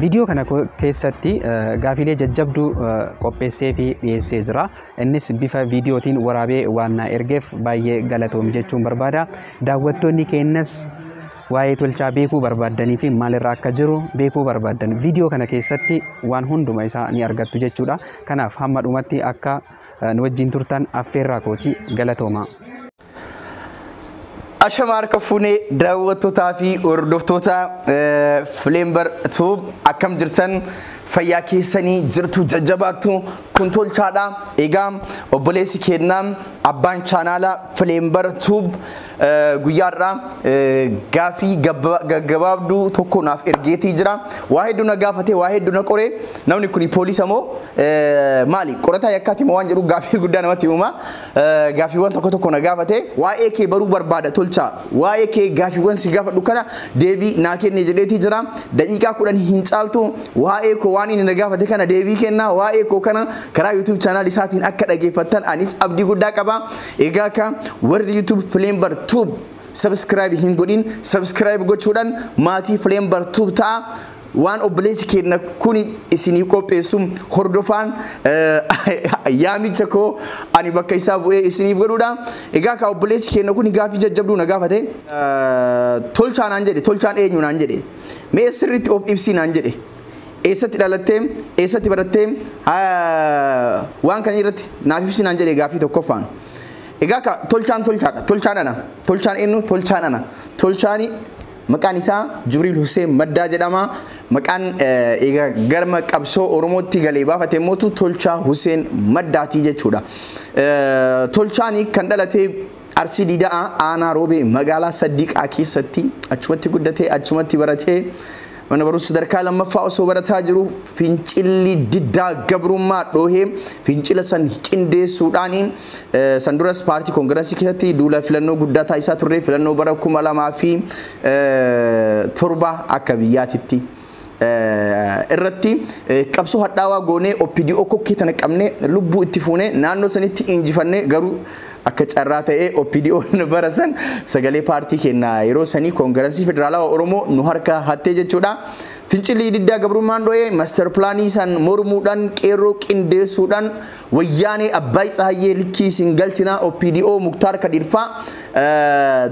Viidiyoo kana keessatti gaafiilee jajjabduu qopheessee fi dhiyeessee jira. Innis bifa viidiyootiin waraabee waan na ergeef baay'ee galatoomi jechuun barbaada. Daawwattoonni keenyas waa'ee tolchaa beekuu barbaaddanii fi maalirra akka jiru beekuu barbaaddan viidiyoo kana keessatti waan hunduma isaa ni argattu jechuudha. Kanaaf hamma dhumatti akka nu wajjin turtan affeerraa kooti galatoomaa. Ashama harka fuunee daawwattootaa fi hordoftoota Fileembar Tuub akkam jirtan fayyaa keessanii jirtu jajjabaattu kun tolchaadha. Egaa obboleessi keennaa abbaan chaanaala Fileembar Tuub guyyaarraa gaafii gaggabaabduu tokko naaf ergeetii jira. Waa hedduu na gaafate, waa hedduu na qore. Namni kun poolisa moo maali? Qorataa yakkaati moo waan jedhu gaafii guddaa namatti uuma. Gaaffiiwwan tokko tokko na gaafate waa'ee kee baruu barbaada tolchaa waa'ee kee gaaffiiwwan si gaafadhu kana deebii naa kenne jedheetii jira daqiiqaa kudhan hin caaltu waa'ee koo waan inni na gaafate kana deebii kenna waa'ee koo kana karaa YouTube channel isaatiin akka dhageeffattan anis abdii guddaa qaba egaa ka warri YouTube Flamber Tube subscribe hin godhin subscribe gochuudhaan maatii Flamber Tube ta'a Waan obboleessi keenna kun isinii qopheessu hordofaan yaamicha koo ani bakka isaa bu'ee isiniif godhuudha. Egaa kaa obboleessi keenna kun gaaffii jajjabduu na gaafate. Tolchaa naan jedhe. Tolchaan eenyu naan jedhe. Mee sirriitti of ibsii naan jedhe. Eessatti dhalattee? Eessatti barattee? Waan kan irratti naaf ibsii naan jedhe gaaffii tokkoffaan. Egaa kaa tolchaan tolchaadha. Tolchaan ana. Tolchaan eenyu? Tolchaan ana. Tolchaani Maqaan isaa Jibriil Huseen Maddaa jedhama. Maqaan egaa garma qabsoo Oromootti galee baafate immoo Tolchaa Huseen Maddaatii jechuudha. Tolchaan kan dhalate Arsii Diidaa aanaa Roobee magaalaa Saddiiqaa keessatti achumatti guddatee achumatti baratee mana barumsa sadarkaa lammaffaa osoo barataa jiru fincilli diddaa gabrummaa dhoohee fincila san qindeessuudhaan San duras paartii koongirasii keessatti duula filannoo guddaa taasisaa turre filannoo bara kuma lamaa fi torba akka biyyaatitti irratti qabsoo hadhaawaa goonee OPDO kokkee tana qabnee lubbuu itti fuunee naannoo sanitti injifannee garuu akka carraa ta'ee OPDO'n bara san sagalee paartii kenna yeroo sanii koongirasii federaalawaa Oromoo nu harka hattee jechuudha. Fincilli diddaa gabrummaan dho'ee master pilaanii san mormuudhaan qeerroo qindeessuudhaan Wayyaanee Abbaay Tsahayyee likkii isin galchinaa opdo Muktaar Kadiir faa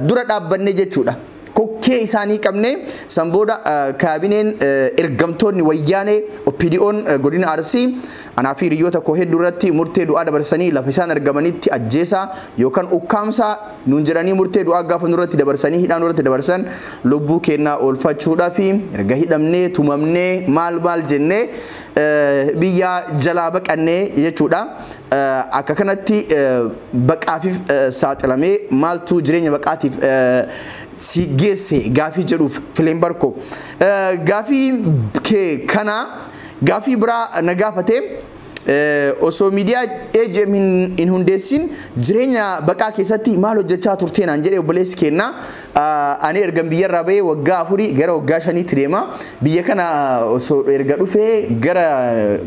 dura dhaabbannee jechuudha. Kokkee isaanii qabnee san booda kaabineen ergamtoonni wayyaanee OPDOn godina Arsii anaa fi hiriyyoota koo hedduu irratti murtee du'aa dabarsanii lafa isaan argamanitti ajjeesaa yookan ukkaamsaa nuun jedhanii murtee du'aa gaafa nurratti dabarsanii hidhaa nurratti dabarsan lubbuu keennaa oolfachuudhafi erga hidhamnee tumamnee maal maal jennee biyyaa jalaa baqannee jechuudha. Akka kanatti baqaafif saaxilamee maaltu jireenya baqaatiif si geesse gaafii jedhuuf fileen barko. Gaafii kee kana gaafii biraa na gaafate osoo miidiyaa AGM hin hundeessin jireenya baqaa keessatti maal hojjechaa turtee naan jedhee obboleessi keenya. Ani ergan biyyarraa bahee waggaa afurii gara waggaa shaniitti deema. Biyya kana osoo erga dhufee gara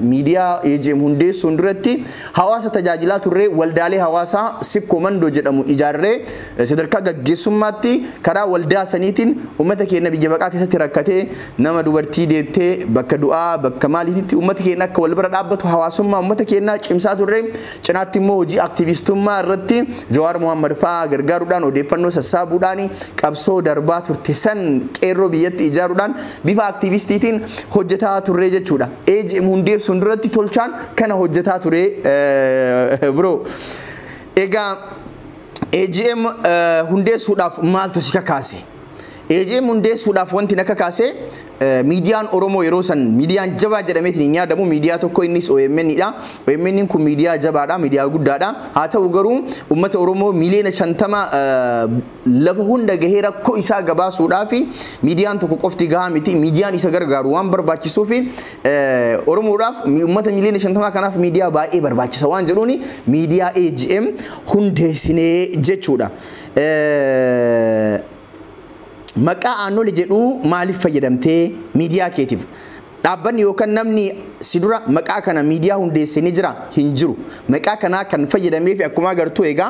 miidiyaa AGM hundeessuun duratti hawaasa tajaajilaa turree waldaalee hawaasaa Sikkoo Mandoo jedhamu ijaarree sadarkaa gaggeessummaatti karaa waldaa saniitiin uummata keenya biyya baqaa keessatti rakkatee nama dubartii deettee bakka du'aa bakka maaliititti uummata keenya akka wal bira dhaabbatu hawaasummaa uummata keenyaa cimsaa turree Cinaatti immoo hojii aktiivistummaa irratti Jawaar Mohammad fa'aa gargaaruudhaan odeeffannoo sassaabuudhaan qabsoo darbaa turte san qeerroo biyyatti ijaaruudhaan bifa aktiivistiitiin hojjetaa turree jechuudha. AGM hundeessuun duratti tolchaan kana hojjetaa ture bro. Egaa AGM hundeessuudhaaf maaltu si kakaase? AJM hundeessuudhaaf wanti na kakaase miidiyaan Oromoo yeroo san miidiyaan jabaa jedhameetiin hin yaadamu miidiyaa tokko innis OMN dha. OMN kun miidiyaa jabaadha, miidiyaa guddaadha. Haa ta'u garuu uummata Oromoo miiliyoona shantama lafa hunda gahee rakkoo isaa gabaasuudhaaf miidiyaan tokko qofti gahaa miti. Miidiyaan isa gargaaru waan barbaachisuuf Oromoodhaaf uummata miiliyoona shantamaa kanaaf miidiyaa baay'ee barbaachisa waan jedhuun miidiyaa AJM hundeessinee jechuudha. Maqaa Aannole jedhuu maaliif fayyadamtee miidiyaa keetiif? Dhaabbanni yookan namni si dura maqaa kana miidiyaa hundeesse ni jira? Hin jiru. Maqaa kanaa kan fayyadameefi akkuma agartu egaa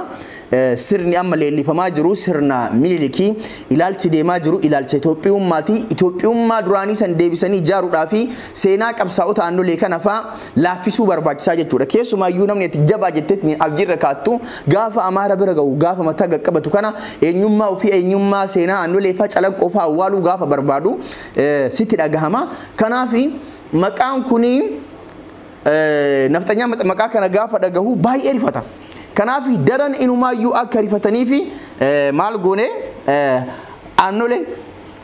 sirni amma leellifamaa jiru sirna Minilikii, ilaalchi deemaa jiru ilaalcha Itoophiyummaati. Itoophiyummaa duraanii san deebisanii ijaaruudhaafi seenaa qabsaa'ota aannolee kana faa laaffisuu barbaachisaa jechuudha. Keessumaa iyyuu namni ati jabaa jetteetni abdiirra kaattu gaafa Amaara bira ga'u gaafa mataa gaqqabatu kana eenyummaa ofii eenyummaa seenaa aannoleefaa calanqoofaa awwaaluu gaafa barbaadu sitti dhagahama. Kanaaf maqaan kuni nafxanyaa maqaa kana gaafa dhagahu baay'ee rifata. Kanaaf daran inumaayyuu akka rifataniif maal goone aannolee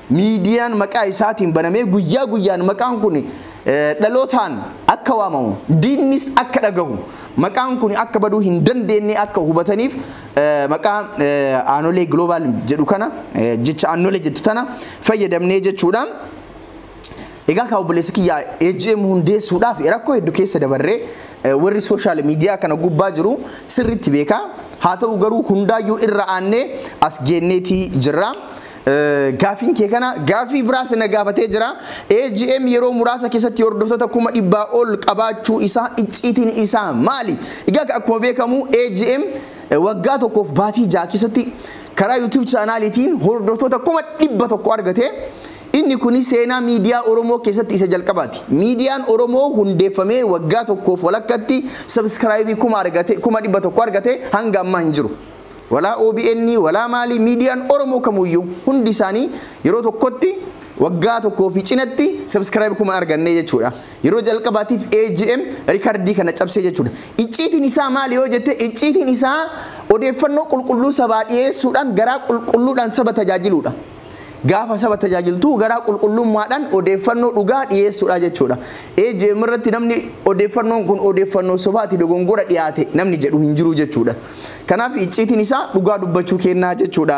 miidiyaan maqaa isaatiin banamee guyyaa guyyaan maqaan kun dhalootaan akka waamamu diinnis akka dhagahu maqaan kun akka baduu hin dandeenye akka hubataniif maqaa aanolee global jedhu kana jecha aanolee jettu tana fayyadamnee jechuudha. Egaa kaa obboleessa kiyya AGM hundeessuudhaaf rakkoo hedduu keessa dabarree warri sooshaal miidiyaa kana gubbaa jiru sirriitti beekaa haa ta'u garuu hundaayyuu irra aannee as geenneetii jirra. Gaafiin kee kana gaafii biraas na gaafatee jira. AGM yeroo muraasa keessatti hordoftoota kuma dhibbaa ol qabaachuu isaa icciitiin isaa maali? Egaa akkuma beekamu AGM waggaa tokkoof baatii ja'a keessatti karaa YouTube chaanaaliitiin hordoftoota kuma dhibba tokko argate. Inni kun seenaa miidiyaa Oromoo keessatti isa jalqabaati. Miidiyaan Oromoo hundeeffamee waggaa tokkoof walakkatti sabskraayibii kuma argate kuma dhibba tokko argate hanga ammaa hin jiru. Walaa OBN walaa maalii miidiyaan Oromoo kamuyyuu hundi isaanii yeroo tokkotti waggaa tokkoo fi cinatti subscribe kuma argannee jechuudha. Yeroo jalqabaatiif AGM rikardii kana cabsee jechuudha. Icciitiin isaa maali yoo jette icciitiin isaa odeeffannoo qulqulluu sabaa dhiyeessuudhaan garaa qulqulluudhaan saba tajaajiluudha. Gaafa saba tajaajiltuu garaa qulqullummaadhaan odeeffannoo dhugaa dhiyeessuudha jechuudha. AJM irratti namni odeeffannoon kun odeeffannoo sobaati dogongora dhiyaate namni jedhu hin jiru jechuudha. Kanaaf icciitiin isaa dhugaa dubbachuu kennaa jechuudha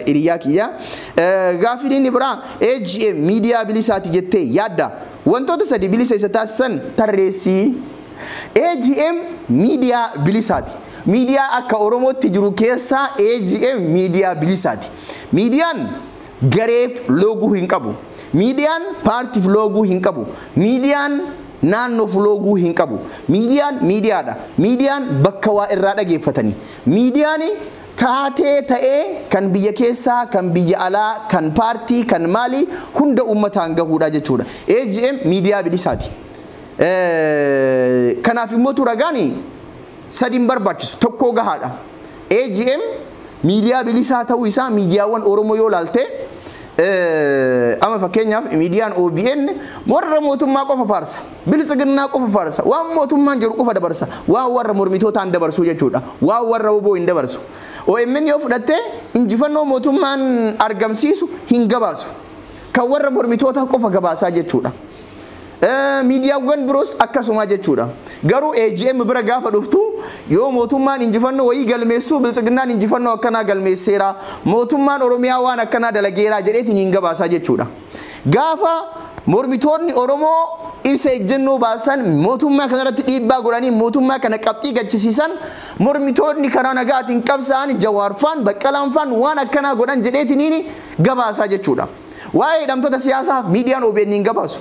hiriyaa kiyya. Gaafiin inni biraa AJM miidiyaa bilisaati jettee yaadda. Wantoota sadi bilisa isa taasisan tarreessii. AJM miidiyaa bilisaati. Miidiyaa akka Oromootti jiru keessaa AJM miidiyaa bilisaati. Miidiyaan gareef looguu hin qabu. Miidiyaan paartiif looguu hin qabu. Miidiyaan naannoof looguu hin qabu. Miidiyaan miidiyaadha. Miidiyaan bakka waa irraa dhageeffatani. Miidiyaan taatee ta'ee kan biyya keessaa, kan biyya alaa, kan paartii, kan maalii hunda uummataan gahuudha jechuudha. AGM miidiyaa bilisaati. Kanaaf immoo tu ragaan sadi hin barbaachisu tokkoo gahaadha. AGM miidiyaa bilisaa ta'uu isaa miidiyaawwan Oromoo yoo laalte ama fakkeenyaaf miidiyaan OBN warra mootummaa qofa faarsa biltsiginnaa qofa faarsa waan mootummaan jedhu qofa dabarsa waan warra mormitootaan dabarsuu jechuudha waan warra oboo hin dabarsu OMN yoo fudhatte injifannoo mootummaan argamsiisu hin gabaasu kan warra mormitootaa qofa gabaasaa jechuudha. Miidiyaawwan biroos akkasuma jechuudha. Garuu AGM bira gaafa dhuftu yoo mootummaan injifannoo wayii galmeessu Biltsiginnaan injifannoo akkanaa galmeesseera, mootummaan Oromiyaa waan akkanaa dalageera jedheeti niin gabaasa jechuudha. Gaafa mormitoonni Oromoo ibsa ejjennoo baasan mootummaa kanarratti dhiibbaa godhanii mootummaa kana qabxii gachisiisan mormitoonni karaa nagaatiin qabsaa'an Jawaarfaan, Baqqalaanfaan waan akkanaa godhan jedheeti niin gabaasa jechuudha. Waa'ee hidhamtoota siyaasaa miidiyaan OBN hin gabaasu.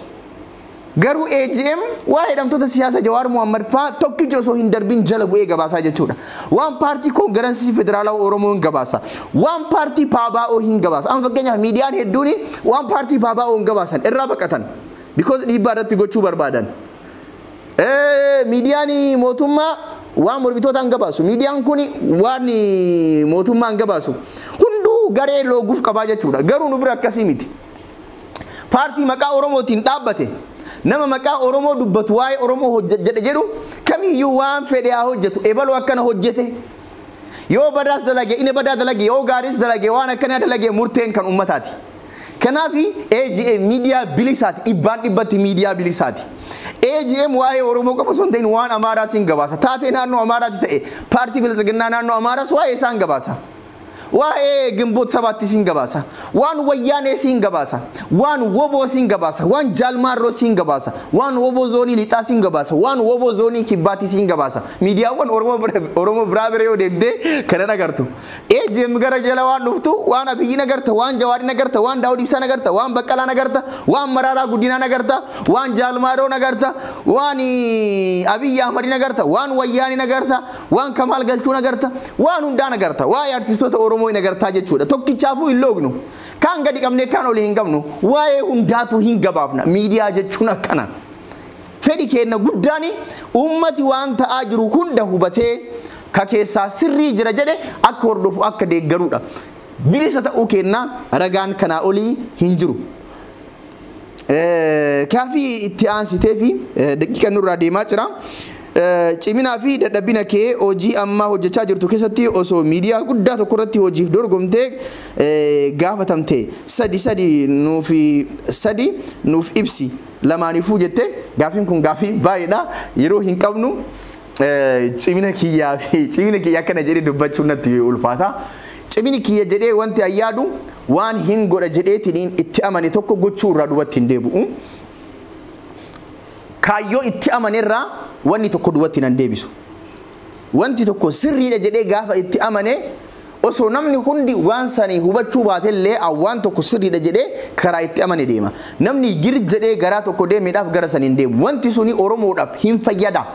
Garuu AGM waa'ee hidhamtoota siyaasa Jawaar Mohaammed fa'aa tokkichi osoo hin darbin jala bu'ee gabaasaa jechuudha. Waan paartii koongiransii federaalaa Oromoo hin gabaasa. Waan paartii Paabaa'oo hin gabaasa. Amma fakkeenyaaf miidiyaan hedduun waan paartii Paabaa'oo hin gabaasan irraa baqatan. Because dhiibbaa irratti gochuu barbaadan. Miidiyaan mootummaa waan mormitootaan gabaasu. Miidiyaan kun waan mootummaan gabaasu hunduu garee looguuf qabaa jechuudha. Garuu nu bira akkasii miti. Paartii maqaa Oromootiin dhaabbate nama maqaa Oromoo dubbatu waa'ee Oromoo hojjedhe jedhu kamiyyuu waan fedhe haa hojjetu ebaloo akkana hojjete yoo badaas dalage inni badaa dalage yoo gaariis dalage waan akkanaa dalage murteen kan uummataati. Kanaafi AGM miidiyaa bilisaati. Dhibbaan dhibbatti miidiyaa bilisaati. AGM waa'ee Oromoo qofa osoo hin ta'in waan Amaaraas hin gabaasa. Taatee naannoo Amaaraatti ta'e paartii Biltsiginnaa naannoo Amaaraas waa'ee isaa hin gabaasa. Waa'ee Gimboot Sabaattis hin gabaasa. Waan Wayyaanees hin gabaasa. Waan Woboos hin gabaasa. Waan Jaalmaarroos hin gabaasa. Waan Woboo Zoonii Lixaas hin gabaasa. Waan Woboo Zoonii Kibbaattis hin gabaasa. Miidiyaawwan Oromoo biraa bira yoo deemtee kanan agartu. AGM gara jala waan dhuftu waan Abiyyiin agarta, waan Jawaariin agarta, waan Daawud Ibsaan agarta, waan Baqqalaan agarta, waan Maraaraa Guddinaan agarta, waan Jaal Maaroon agarta, waan Abiyyi Ahmadiin agarta, waan Wayyaaneen agarta, waan Kamaal Galchuun agarta, waan hundaan agarta. Waa'ee artistoota Oromoo hin agartaa jechuudha. Tokkichaafuu hin loognu. Kaan gadi qabnee kaan oli hin qabnu. Waa'ee hundaatuu hin gabaabna. Miidiyaa jechuun akkana. Fedhi keenna guddaan ummati waan ta'aa jiru hunda hubatee ka keessaa sirrii jira jedhe akka hordofu akka deeggaruudha. Bilisa ta'uu keenna ragaan kanaa olii hin jiru. Gaafii itti aansiteefi daqiiqan nurraa deemaa jira. Ciminaa fi dadhabina kee hojii amma hojjechaa jirtu keessatti osoo miidiyaa guddaa tokko irratti hojiif dorgomtee gaafatamte sadi sadi nuuf sadi nuuf ibsi. lamaaniifuu jette gaafiin kun gaafii baay'eedha yeroo hin qabnu cimina kiyyaa fi cimina kiyya akkana jedhee dubbachuun natti ulfaata. Cimini kiyya jedhee wanti an yaadu waan hin godha jedheetiin itti amane tokko gochuu irraa dubatti hin deebi'u. Kaayyoo itti amane irraa wanni tokko dubatti nan deebisu. Wanti tokko sirriidha jedhee gaafa itti amane osoo namni hundi waan sanii hubachuu baatellee an waan tokko sirriidha jedhee karaa itti amane deema. Namni gir jedhee garaa tokko deemeedhaaf gara saniin deemu. Wanti suni Oromoodhaaf hin fayyada.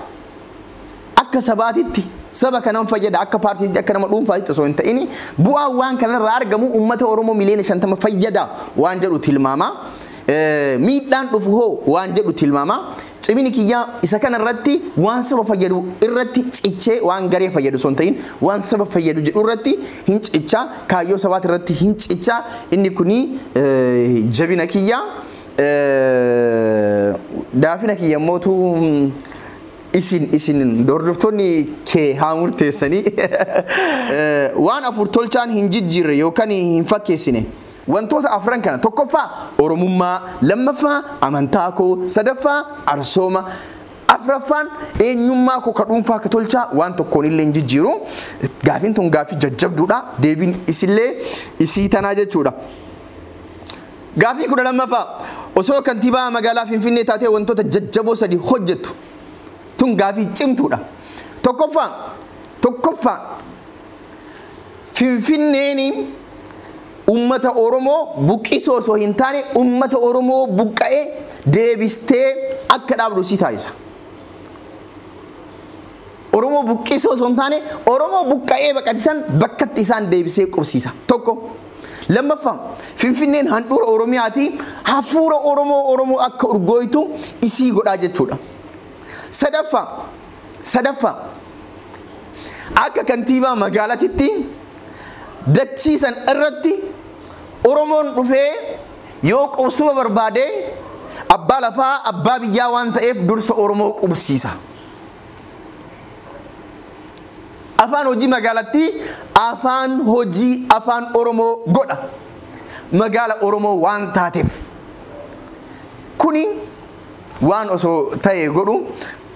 Akka sabaatitti saba kanan fayyada akka paartiitti akka nama dhuunfaatitti osoo hin ta'ini bu'aan waan kanarraa argamu ummata Oromoo miliyoona 50 fayyada waan jedhu tilmaama. Miidhaan dhufu hoo waan jedhu tilmaama. Cimini kiyya isa kana irratti waan saba fayyadu irratti cichee waan garee fayyadu osoo hin ta'in waan saba fayyadu jedhu irratti hin cicha kaayyoo sabaati irratti hin cicha inni kuni jabina kiyya daafina kiyya mootu isin isin hordoftoonni kee haa murteessanii waan afur tolchaan hin jijjiirre yookaan hin fakkeessine Wantoota afran kana tokkoffaa Oromummaa, lammaffaa amantaa koo, sadaffaa arsooma, afraffaan eenyummaa koo ka dhuunfaa ka tolchaa waan tokkoon illee hin jijjiiru. Gaafiin tun gaafii jajjabduudha. Deebiin isillee isii tanaa jechuudha. Gaafii kudha lammaffaa osoo kantiibaa magaalaa Finfinnee taatee wantoota jajjaboo sadi hojjettu. Tun gaafii cimtuudha. Tokkoffaa tokkoffaa Finfinneen ummata Oromoo buqqisuu osoo hin taane ummata Oromoo buqqa'e deebistee akka dhaabdu si taasisa. Oromoo buqqisuu osoo hin taane Oromoo buqqa'ee baqatisan bakkatti isaan deebisee qubsiisa. Tokko. Lammaffaa Finfinneen handhuura Oromiyaati hafuura Oromoo Oromoo akka urgooytu isii godhaa jechuudha. Sadaffaa Sadaffaa, akka kantiibaa magaalatitti dachii san irratti Oromoon dhufee yoo qubsuma barbaade abbaa lafaa abbaa biyyaa waan ta'eef dursa Oromoo qubsiisa. Afaan hojii magaalattii afaan hojii afaan Oromoo godha. Magaala Oromoo waan taateef. Kuni waan osoo ta'e godhu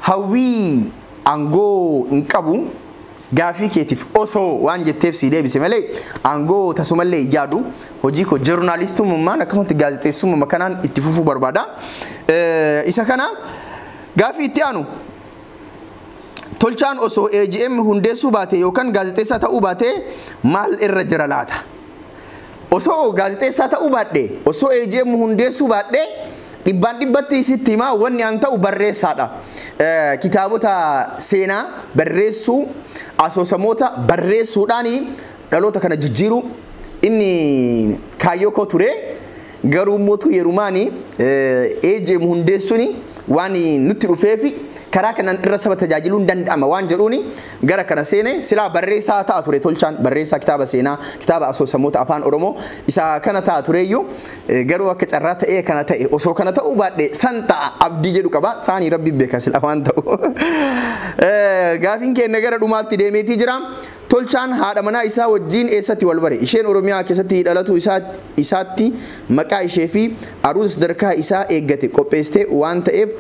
Hawwii angoo hin qabu gaafii keetif osoo waan jetteef sii deebise malee angoo tasumallee hin yaadu hojii koo jornaalistumummaan akkasumatti gaazexeessummuma kanaan itti fufuu barbaada isa kana gaafii itti aanu tolchaan osoo AGM hundeessuu baate yookan gaazexeessaa ta'uu baate maal irra jira laata? Osoo gaazexeessaa ta'uu baadhee, osoo AGM hundeessuu baadhee dhibbaan dhibbatti sitti hima wanni an ta'u barreessaadha. Kitaabota seenaa barreessuu, asoosamoota barreessuudhaan dhaloota kana jijjiiruu inni kaayyoo koo ture. Garuu immoo utuu yerumaani AJM hundeessuuni waan nutti dhufeefi karaa kanaan dhirra saba tajaajiluun danda'ama waan jedhuuni gara kana seene. Silaa barreessaa ta'a ture Tolchaan, barreessaa kitaaba seenaa, kitaaba asoosamoota Afaan Oromoo isa kana ta'a tureeyyu. Garuu akka carraa ta'ee kana ta'e. Osoo kana ta'uu baadhe san ta'a abdii jedhu qaba. Saani Rabbi beeka silaa waan ta'u. Gaafiin keenya gara dhumaatti deemeetii jira. Tolchaan haadha manaa isaa wajjiin eessatti wal bare? Isheen Oromiyaa keessatti dhalatuu isaa isaatti maqaa ishee fi aruuza sadarkaa isaa eeggate qopheessite waan ta'eef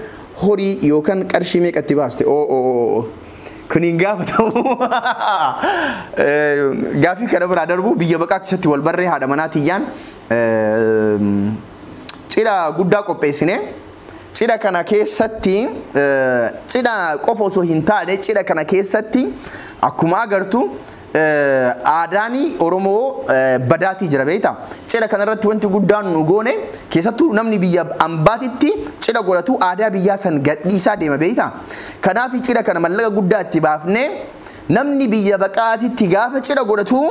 horii yookan qarshii meeqa itti baaste? O o o o Kun hin gaafatamu. Gaafii kana biraa darbu biyya baqaa keessatti wal barree haadha manaa tiyyaan cidha guddaa qopheessine. Cidha kana keessatti cidha qofa osoo hin taane cidha kana keessatti akkuma agartu aadaan Oromoo badaatii jira beekta. Cidha kana irratti wanti guddaan nu goone keessattuu namni biyya ambaatitti cidha godhatu aadaa biyyaa san gadhiisaa deema beekta. Kanaaf cidha kana mallaqa guddaa itti baafnee namni biyya baqaatitti gaafa cidha godhatu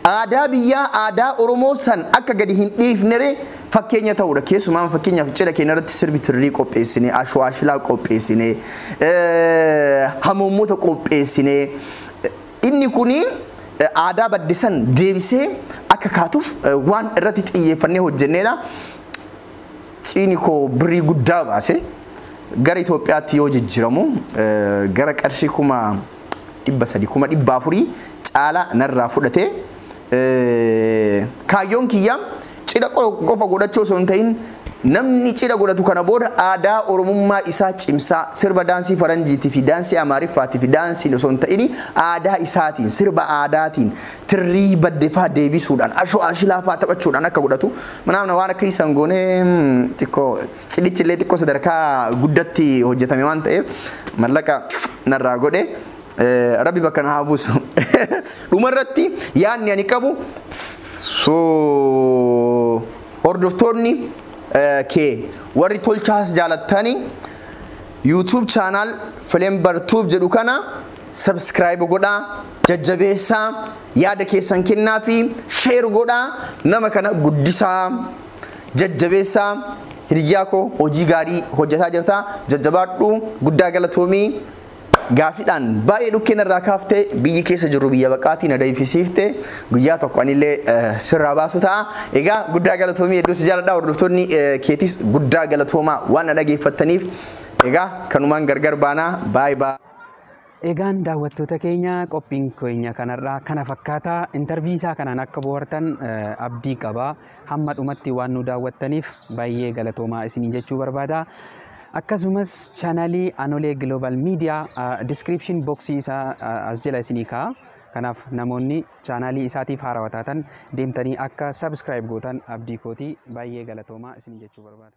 aadaa biyyaa aadaa Oromoo san akka gadi hin dhiifneree fakkeenya ta'uudha. Keessumaa fakkeenyaaf cidha keenya irratti sirbi tirrii qopheessinee, ashwaashilaa qopheessinee, hamoommota qopheessinee inni kun aadaa badde san deebisee akka kaatuuf waan irratti xiyyeeffannee hojjenneedha. Ciini koo birrii guddaa baase gara Itoophiyaatti yoo jijjiramu gara qarshii kuma dhibba sadii kuma dhibba afurii caala narraa fudhate. Kaayyoon kiyya cidha qofa godhachuu osoo hin ta'in namni cidha godhatu kana booda aadaa oromummaa isaa cimsaa sirba daansii faranjiitii fi daansii amaariffaatii fi daansiin osoo hin ta'in aadaa isaatiin sirba aadaatiin tirrii badde faa deebisuudhaan ashoo ashilaa faa taphachuudhaan akka godhatu manaamna waan akka isaan goonee xiqqoo cidhichi illee xiqqoo sadarkaa guddatti hojjetame waan ta'eef mallaqa narraa godhe rabbi bakka na haa buusu dhumarratti yaadni ani qabu so hordoftoonni kee warri tolchaas jaalattanii YouTube channel Flembar Tube jedhu kana Subscribe godhaa, jajjabeessaa, yaada keessan kennaa fi share godhaa nama kana guddisaa, jajjabeessaa. Hiriyyaa koo hojii gaarii hojjetaa jirta. Jajjabaadhu guddaa galatoomii. Gaafiidhaan baay'ee dhukkeen irraa kaaftee biyyi keessa jirru biyya baqaatii na deebisiifte guyyaa tokko anillee eh, sirraa baasu ta'a. Egaa guddaa galatoomii hedduu si jaaladha. Hordoftoonni eh, keetis guddaa galatoomaa waan na dhageeffattaniif egaa kanumaan gargar baanaa baay'ee baay'ee. Egaan daawwattoota keenya qophiin keenya kanarraa kana fakkaata. Intarvii isaa kanaan akka bohaartan abdii qaba. Hamma dhumatti waan nu daawwattaniif baay'ee galatoomaa isiniin jechuu barbaada. Akkasumas chaanalii Anolee Global Media description boxii isaa as jala isinii kaa'a. Kanaaf namoonni chaanalii isaatiif haarawa taatan deemtanii akka subscribe gootan abdii kooti baay'ee galatoomaa isiniin jechuu barbaada.